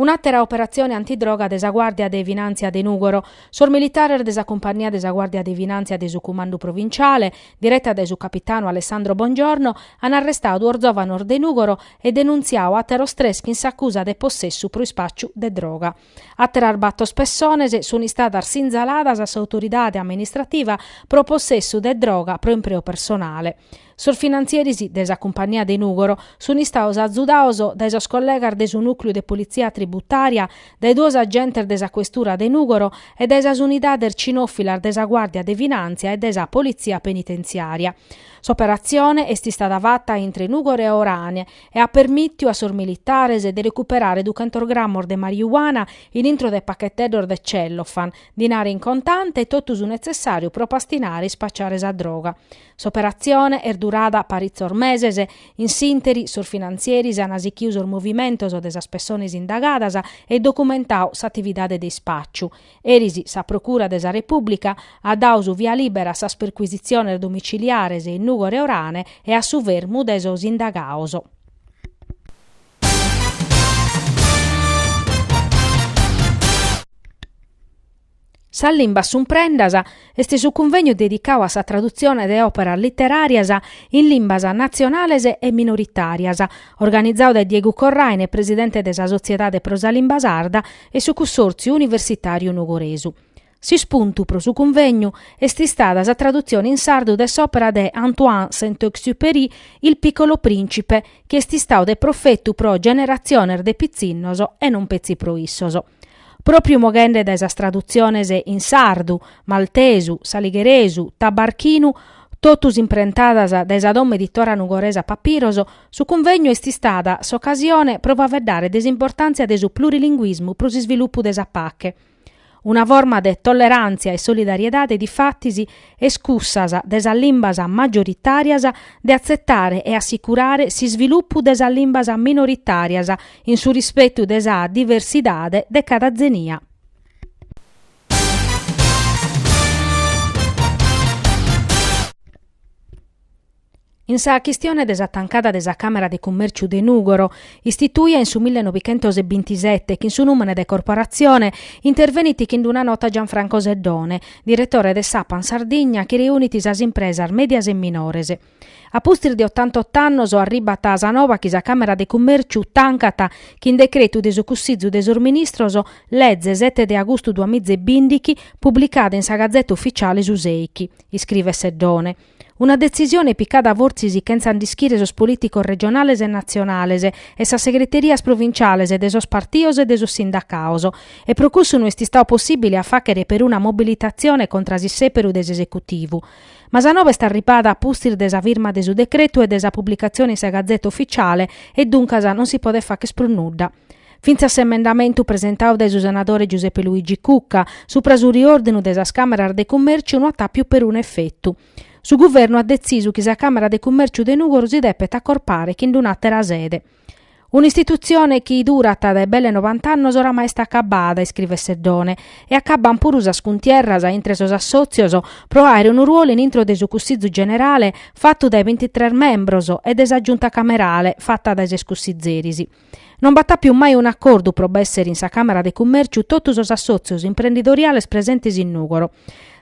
Un'àtera operatzione antidroga de sa Guàrdia de Finàntzia de Nùgoro. Sos militares de sa Cumpannia de sa Guàrdia de Finàntzia de su Cumandu Provinciale, direta dae su capitanu Alessandro Bongiorno, an arrestadu duos zòvanos de Nùgoro e denuntziadu àteros tres chin s'acusa de possessu pro ispàciu de droga. Àteras bator pessones sunt istadas sinzaladas a s'autoridade amministrativa pro possessu de droga pro impreu personale. Sos finantzieris de sa cumpania de Nùgoro sunt istados azudados dae sos collegas de su Nùcleu de Politzia Tributària, dae duos agentes de sa Questura de Nùgoro e dae sas unidades cinòfilas de sa Guàrdia de Finàntzia e de sa Politzia Penitenziària. S'operatzione est istada fata intre Nùgoro e Orane e at permìtiu a sos militares de recuperare duchentos grammos de marijuana in intro de pacheteddos de cellofan, dinare in contante e totu su netzessàriu pro pastinare e ispacciare sa droga. S'operatzione est durada paritzos meses, in s'ìnteri sos finantzieris an sichidu sos movimentos de sas pessones indagadas e documentadu s'atividade de ispàciu. Eris sa Procura de sa Repùblica at dadu su via lìbera a sas percuisitziones domiciliares in Nùgoro e Orane e a su fermu de sos indagados. Sas limbas sun prendas Est su cunvegnu dedicau a sa tradutzione de òperas literàrias in limbas natzionales e minoritàrias, organizau dae Diegu Corraine, presidente de sa Sotziedade pro sa Limba Sarda e su Cussòrtziu Universitàriu Nugoresu. S'ispuntu pro su cunvegnu est istada sa tradutzione in sardu de s'òpera de Antoine Saint-Exupéry Il piccolo principe, chi est istau de profetu pro generatziones de pitzinnos e non petzi pro issos. Pròpriu moghende dae sas tradutziones in sardu, maltesu, aligheresu, tabarchinu, totus imprentadas dae sa domo editora nugoresa Papiros, su cunvegnu est istada s'ocasione pro faeddare de s'importàntzia de su plurilinguismu pro s'isvilupu de sa pache. Una forma de tolleràntzia e solidariedade difatis est cussas de sas limbas majoritàrias de atzetare e assicurare s'isvilupu de sas limbas minoritàrias in su rispetu de sa diversidade de cada tzenia. In sa chistione de sa tancada de sa Càmera de Cummèrciu de Nùgoro, istituia in su millenovichentos e bintisete chin su nùmene de Corporatzione, intervenit chin una nota Gianfranco Seddone, diretore de s'Apan Sardigna chi reunit sas impresas mèdias e minores. A pustis de otantotto annos arribat sa nova chi sa Càmera de Cummèrciu tancat chin decretu de su Cussìgiu de sos Ministros, leze sete de agustu duamiza e bìndighi, publicada in sa Gazeta Ufficiale su sèichi, iscrivet Seddone. Una detzisione picada fortzis chentza nd'ischire sos polìticos regionales e natzionales e sas segreterias provinciales de sos partidos e de sos sindacados e pro cussu no est istadu possìbile a fàghere peruna mobilitatzione contra s'issèperu de s'Esecutivu, Ma sa nova est arribada a pustis de sa firma de su decretu e de sa publicatzione in sa Gazeta Ufficiale e duncas non si podet fagher prus nudda. Fintzas s'emendamentu presentadu dae su senadore Giuseppe Luigi Cucca supra su riòrdinu de sas Càmeras de Cummèrciu no at àpiu perunu efetu. Su Guvernu at detzisu chi sa Càmera de Cummèrciu de Nùgoro si depet acorpare chin un'àtera sede. Un'istitutzione chi durat dae belle nobant'annos oramai est acabada, iscrivet Seddone, e acaban puru sas cuntierras intre sos assòtzios pro àere unu ruolu in intro de su Cussizu Generale fatu dae bintitres membros e de sa Giunta Camerale fata dae ses cussizeris. Non b'at àpiu mai un'acordu pro b'èssere in sa Càmera de Cummèrciu totu sos assòtzios imprendidoriales presentes in Nùgoro.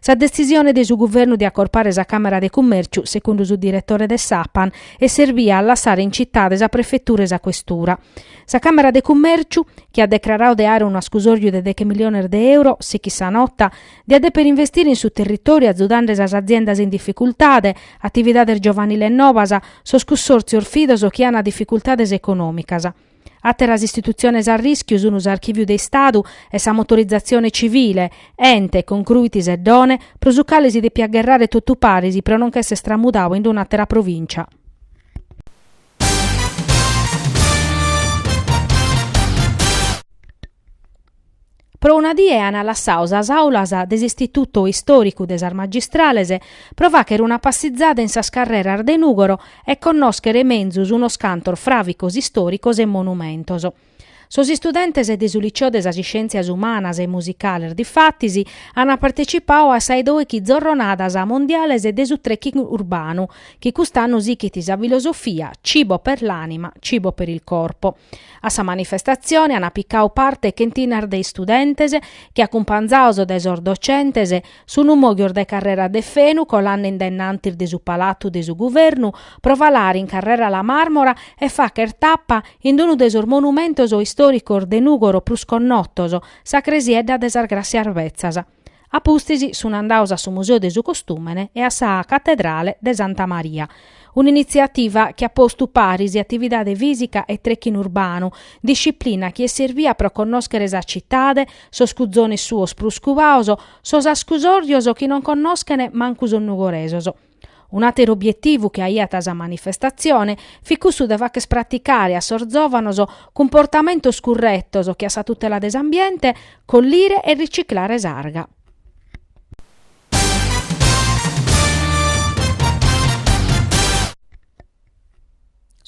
Sa detzisione de su guvernu de acorpare sa Càmera de Cummèrciu, segundu su diretore de s'Apan, est serbia a lassare in citade sa prefetura e sa questura. Sa Càmera de Cummèrciu, chi at decraradu de àere unu ascusòriu de deghe miliones de euro, sichit sa nota, diat dèpere investire in su territòriu azudande sas aziendas in dificultade, atividades giovaniles nobas, sos cussòrtzios fidos chi ant dificultades econòmicas. Àteras istitutziones a rìschiu sun s'Archìviu de Istadu e sa Motorizatzione Civile, ente, concruit Seddone, pro su cale si depiat gherrare totu paris pro non ch'esser stramudadu in un'àtera provìncia. Pro una die ant lassadu sas àulas de s'Istitutu Istòricu de sas Magistrales pro fàghere una passizada in sas carreras de Nùgoro e connòschere menzus unos cantos fràvicos istòricos e monumentos. Sos istudentes de su Liceo de sas Iscièntzias Umanas e Musicales difatis ant partecipadu a sa 'e dòichi zorronadas mondiales de su trekking urbanu, chi cust'annu sighit sa filosofia Cibo per l'anima, cibo per il corpo. A sa manifestatzione ant picau parte chentinas de istudentes chi, acumpanzados dae sos docentes, sun mòghios dae Carrera de Fenu colande in dennantis de su Palatu de su Guvernu pro falare in Carrera La Màrmora e fàghere tapa in unu de sos monumentos istòricos de Nùgoro prus connotos, sa Cresiedda de sas Gràssias Betzas. A pustis sun andados a su Museu de su Costùmene e a sa Catedrale de Santa Maria, un'initziativa chi at postu paris atividade fìsica e trekking urbanu, disciplina chi est servia pro connòschere sa citade, sos cuzones suos prus cubados, sos ascusòrios chi non connoschent mancu sos nugoresos. Un'àteru obietivu chi aiat sa manifestatzione fit cussu de fàcher praticare a sos zòvanos cumportamentos curretos che a sa tutela de s'ambiente, collire e riciclare s'arga.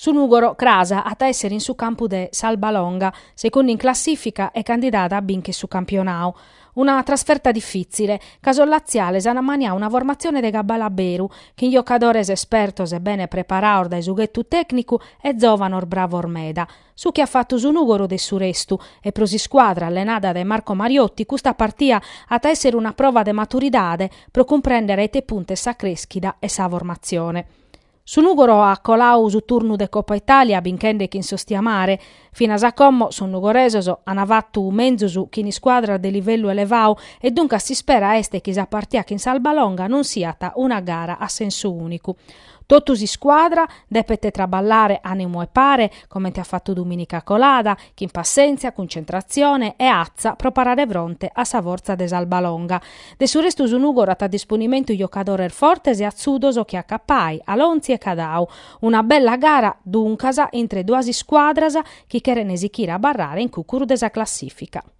Su Nùgoro cras at a èssere in su campu de s'Albalonga, secundu in classìfica e candidada a binche su campionau. Una trasferta difìtzile, ca sos latziales ant maniadu una formatzione de cabale a beru, chin giocadores espertos e bene preparados dae su ghetu tècnicu e zòvanos bravos meda. Su chi at fatu su Nùgoro de su restu, e pro s'iscuadra allenada dae Marco Mariotti custa partia at a èssere una prova de maturidade pro cumprèndere a ite puntu est sa crèschida e sa formatzione. Su Nùgoro at coladu su turnu de Copa Itàlia binchende chin s'Ostiamare. Finas a como sos nugoresos ant fatu menzus chin iscuadras de livellu elevadu e duncas s'ispera est chi sa partida chin s'Albalonga non siat una gara a sensu ùnicu. Totu s'iscuadra depet traballare a numu 'e pare, comente at fatu dumìnica colada, chin passèntzia, cuntzentratzione e atza pro parare fronte a sa fortza de s'Albalonga. De su restu su Nùgoro at a disponimentu giocadores fortes e atzudos che a Cappai, Alonzi e Cadau. Una bella gara, duncas, intre duas iscuadras chi cheren sichire a abarrare in cucuru de sa classìfica.